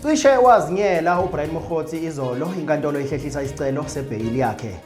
Cishe wazinyela uBrian Mokgotsi izolo inkantolo ihlehlisa isicelo sebheyili yakhe.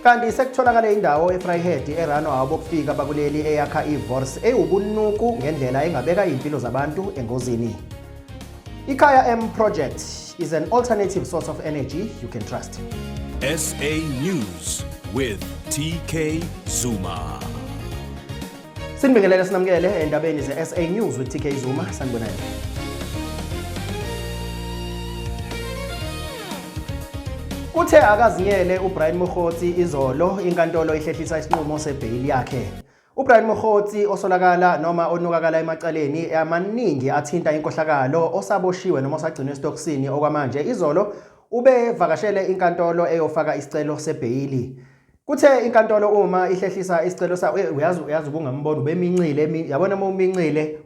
Kanti sekutholakale indawo eFryhead eRano abokufika bakuleli eyakha iVors ewubunuku ngendlela engabeka impilo zabantu engozini. Ikhaya M project is an alternative source of energy you can trust. SA News with TK Zuma. Sinibingelele sinamukele endabeni ze-SA News with TK Zuma sanibonani. Uthe akazinyele uBrian Mokgotsi izolo inkantolo ihlehlisa isinqumo sebheyili yakhe. UBrian Mokgotsi osolakala noma onukakala emacaleni amaningi athinta inkohlakalo osaboshiwe noma osagcinwe esitokisini okwamanje izolo ubevakashele inkantolo eyofaka isicelo sebheyili. Kuthe inkantolo uma ihlehlisa isicelo sa eh, uyazi uyazi ubungambona ubemincile yabona uma umincile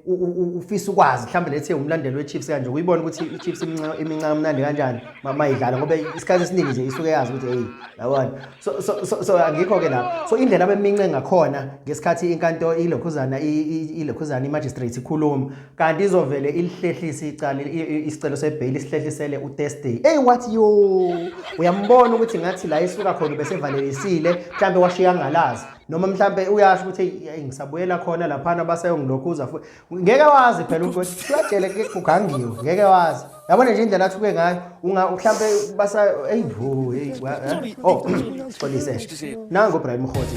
ufisa ukwazi mhlawumbe lethe umlandeli weChiefs kanje uyibona ukuthi iChiefs iminca iminca kamnandi kanjani mama idlala ngoba isikhathi esiningi nje isuke yazi ukuthi hey yabona so so so, so angikho ke lapho so indlela abemince ngakhona ngesikhathi inkantolo ilokhuzana ilokhuzana imagistrate ikhuluma kanti izovele ilihlehlise icala isicelo sebheyili isihlehlisele utestay eyi wathi yo uyambona ukuthi ngathi la isuka khona ubesevalelisile mhlawumbe washiya ngalazi noma mhlawumbe uyasho ukuthi eyi ngisabuyela khona laphana baseyongilokhuza futhi ngeke wazi phela ukuthi kuyajele kugangiwe ngeke wazi yabona nje indlela athuke ngayo mhlawumbe basa eyi vo eyi eh? o oh, xolise nango brian mhoti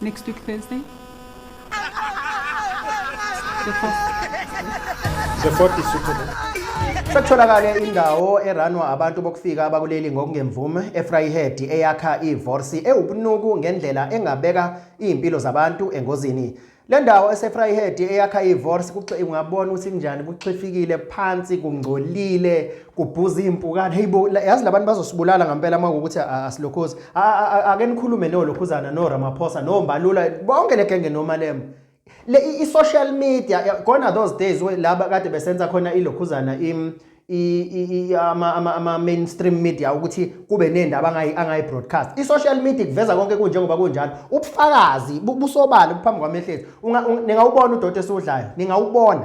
Next week Thursday. The fourth. The fourth is suitable. Sekutholakale indawo eranwa abantu bokufika abakuleli ngokungemvume eFryhead eyakha ivorsi ewubunuku ngendlela engabeka izimpilo zabantu engozini. Le ndawo eseFryhead eyakha ivorsi kungabona ukuthi kunjani kuxifikile phansi kungcolile kubhuza iy'mpukane heyi bo yazi labantu bazosibulala ngampela uma kuwukuthi asilokhozi ake nikhulume nolokhuzana noramaphosa nombalula bonke le genge nomalema le i-social media gona those days laba kade besenza khona ilokhuzana ama-mainstream media ukuthi kube nendaba angayi-broadcast i-social media kuveza konke kunjengoba kunjalo ubufakazi busobala buphambi kwamehlethu ningawubona udoti esiwudlayo ningawubona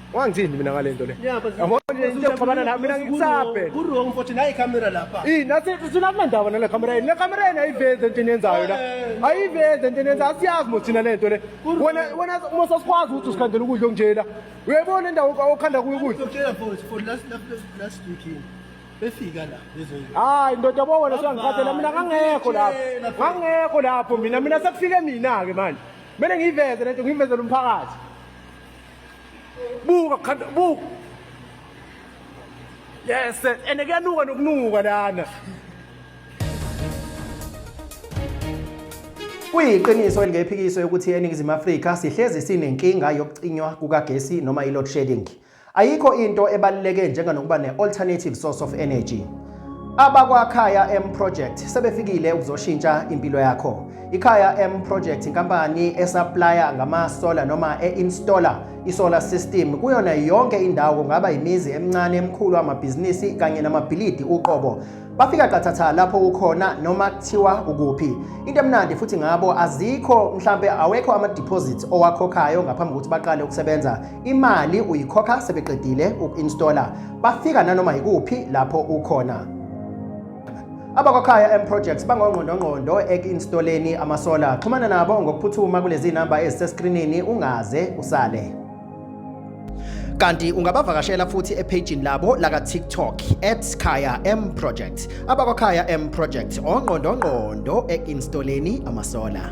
Wangithini mina ngalento le. Yabo nje into yokuxabana la mina ngikusabhe. Ku wrong futhi nayi camera lapha. Eh nathi thina kunendaba nale camera yini. Le camera yini ayivezi into eniyenzayo la. Eh. Ayivezi into eniyenzayo asiyazi mo thina lento le. Wena wena uma sasikwazi ukuthi usikhandela ukudla okunjena. Uyabona indawo okhanda kuyo ukudla. Ngitshela futhi for last last weekend. befika la hayi ndoda bo wena siyangikhathela mina ngangekho lapho ngangekho lapho mina mina sekufike mina-ke manje kumele ngiyiveze lento ngiyivezele umphakathi buka khanda buka yes and kuyanuka nokunuka lana Kuyiqiniso elingephikiso yokuthi eNingizimu Afrika sihlezi sinenkinga yokucinywa kukagesi noma i-load shedding. Ayikho into ebaluleke njenganokuba ne-alternative source of energy. AbakwaKhaya M Project sebefikile ukuzoshintsha impilo yakho. IKhaya M Project inkampani esaplaya ngamasola noma e-installer isolar system kuyona yonke indawo kungaba imizi emincane emikhulu amabhizinisi kanye namabhilidi uqobo. Bafika qathatha lapho ukhona noma kuthiwa ukuphi. Into emnandi futhi ngabo azikho mhlambe awekho ama deposits owakhokhayo ngaphambi kokuthi baqale ukusebenza. Imali uyikhokha sebeqedile uku-installer, bafika nanoma yikuphi lapho ukhona. Abakwakhaya M Projects bangongqondongqondo eku-installeni amasola. Xhumana nabo ngokuphuthuma kulezi namba eziseskrinini ungaze usale. Kanti ungabavakashela futhi ephejini labo laka TikTok @khaya M Project. Abakwakhaya M Project ongqondongqondo eku-installeni amasola.